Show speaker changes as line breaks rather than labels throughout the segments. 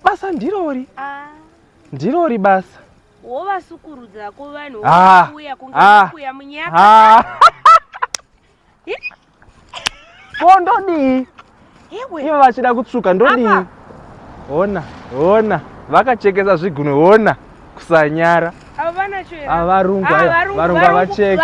basa ndirori ah. ndirori basa wovasukurudza
ko vanhu ah. vouya kungakuya ah. munyaka
ko ndodii ivo vachida kutsvuka ndodii hona hona vakachekesa zvigunwe hona kusanyara avarungu avarungu avacheki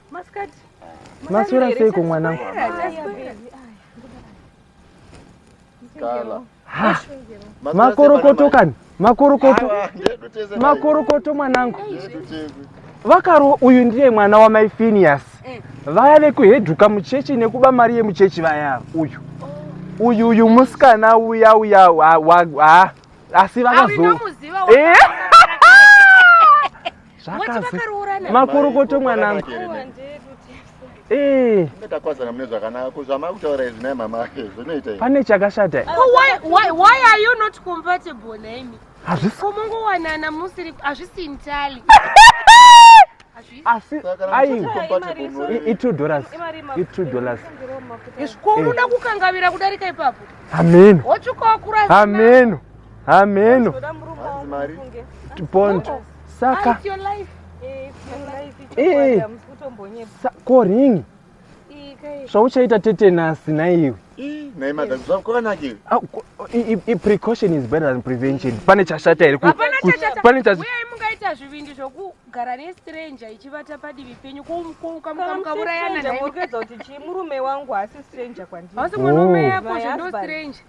Maskati. Maswera seiko mwana? Kala. Makorokoto kani? Makorokoto. Makorokoto mwanangu. Vakaro uyu ndiye mwana wa Mai Phineas. Eh. Vaya vekuheduka muchechi nekuba mari yemuchechi vaya uyu. Oh. Uyu uyu musikana uya uya wa, wa, wa, asi vakazo. Eh. zvakazi makorokoto mwanangu eh. takwazana mune zvakanaka ko zvamakutaura izvi naye mama ake zvinoita pane chakashata
eh? hazvisimungowanana musiri hazvisi ntali asi
aitwo dollars itwo dollars
zvikuruda eh. kukangavira kudarika ipapo hameno
hotsvukokura
hameno
hameno pond saka
ah, eh,
ko ringi zvauchaita tete nasi naiwe precaution is better than prevention pane chashata here pane
kuita zvivindi zvokugara nestranger ichivata padivi penyu kukamukaurayana naye kuti chii murume
wangu haasi stranger kwandiri hausi mwana wamai yako
zvondo stranger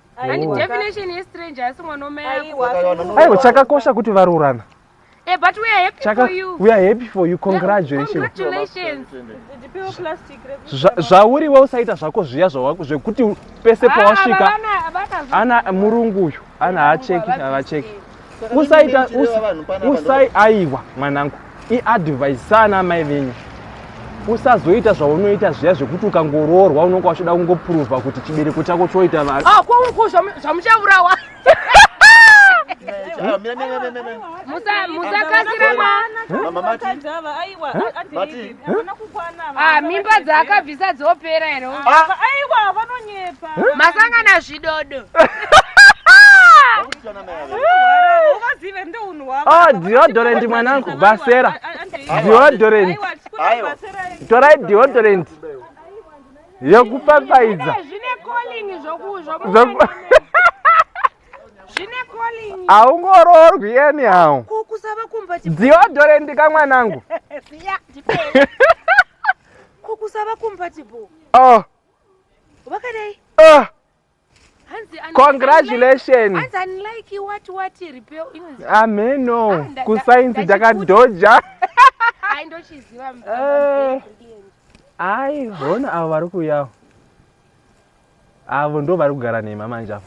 aiwa chakakosha
kuti varoorana Hey, eh, but we are
happy Chaka, for you. We are happy for you.
Congratulations. Yeah, congratulations.
Zvauri we usaita zvako zviya
zvawako zvekuti pese ah, pawasvika ana murungu uyu ana haacheki havacheki. usaita usai aiwa mwanangu iadvise sana amai venyu usazoita zvaunoita zviya zvekuti ukangoroorwa unonga wachoda kungopruvha kuti chibereko chako choita vanhu ah, kwauko zvamuchaurawa
musakasira mwana Ah, mimba dzaakabvisa dzopera here ah. aiwa vanonyepa eh? masangana zvidodo
ah, deodorant mwanangu basera deodorant torai deodorant yekupapaidza zvine calling haungororwi yeni hao kukusava kumba dziodore ndika mwanangu siya ndipei
kukusava kumba chibo oh vakadai oh
congratulations ameno ah, kusainzi takadhoja eh. ai hona avo vari kuyawo avo ndo vari kugara nema manje avo